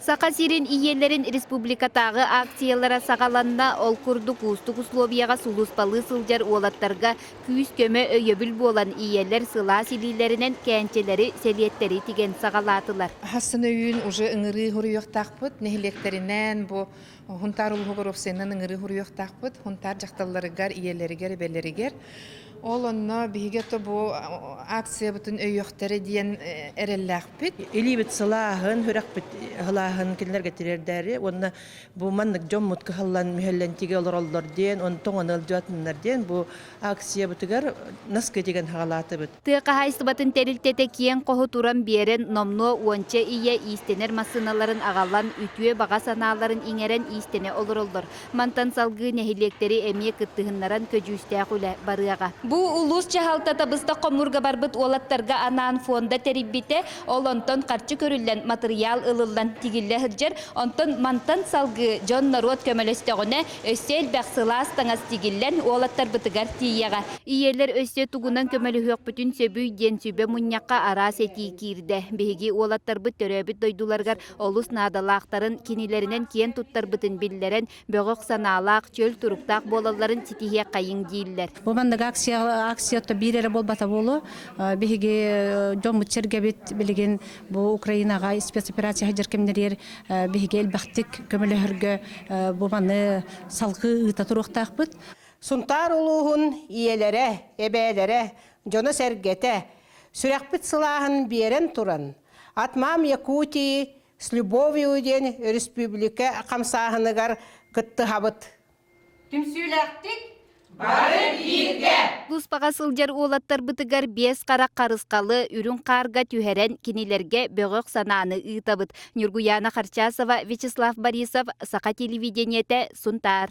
Саха сирин ийиэлэрин республикатааҕы акциялара саҕаланна. Ол курдук, уустук условияҕа сулууспалыы сылдьар уолаттарга күүс-көмө, өйөбүл буолан, ийэлэр сылаас илиилэринэн кээнчэлэри, сэлиэттэри тигэн саҕалаатылар. Һассыны-өйүүн уже ыҥырыы суруйуохтаахпыт. Нэһилиэктэринээн бу Хунтаар улуһугар уопсайынан ыҥырыы хуруйуохтаахпыт. Хунтаар дьахталларыгар, ийэлэригэр, эбэлэригэр. Ол онно биһиги то бу акциябытын өйүөхтэрэ диэн эрэллээхпит. Илиибит сылааһын, үрэхпит ыһылааһын кинилэргэ тириэрдээри уонна бу маннык дьоммут кыһаллан мүһэллэн тиги олороллор диэн, онтон ыалдьыатыннар диэн бу акциябытыгар наскы тигэн хаҕалаатыбыт. Тыа хаһаайыстыбатын тэрилтэтэ киэҥ хоһу туран биэрэн, номнуо уонча ийэ иистэнэр массыыналарын аҕалан, үтүө баҕа санааларын иҥэрэн иистэнэ олороллор. Мантан салгыы нэһилиэктэри эмиэ кыттыһыннаран көдьүүстээх үлэ барыаҕа. Бу улуус дьаһалтата быстах хомуурга барбыт уолаттарга анаан фонда тэрийбитэ, ол онтон харчы көрүллэн, матырыйаал ылыллан тигиллэ сылдьар, онтон мантан салгыы дьон-норуот көмөлөстөҕүнэ, Өссө элбэх сылаас таҥас тигиллэн, уолаттарбытыгар тиийэҕэ. Ийэлэр өссө тугунан көмөлөһүөхпүтүн сөбүй диэн сүбэ мунньахха араас этии киирдэ. Биһиги уолаттарбыт төрөөбүт дойдуларыгар олус наадалаахтарын, кинилэринэн киэн туттарбытын биллэрэн, бөҕөх санаалаах, чөл туруктаах буолалларын ситиһиэххэйиҥ дииллэр. Бу маннык акция акция биир эрэ буолбата буолуо. Биһиги дьоммут-сэргэбит билигин Бу Украинаға спецоперация хадьыр кемнерер биһиги элбэхтик көмөлөһөргө бу маны салгы ыыта туруохтаахпыт. Сунтаар улууһун ийэлэрэ, эбээлэрэ, дьоно-сэргэтэ, сүрэхпит сылааһын биэрэн туран, От мам Якутии с любовью диэн өрөспүүбүлүкэ хамсааһыныгар кыттыһабыт. Түмсүүлээхтик бары бииргэ! Кыыспаҕа сылдьар уолаттарбытыгар биэс хара харысхалы үрүҥ хаарга түһэрэн кинилэргэ бөҕөх санааны ыытабыт. Ньургуяна Харчасова, Вячеслав Борисов, Саха телевидениете, Сунтаар.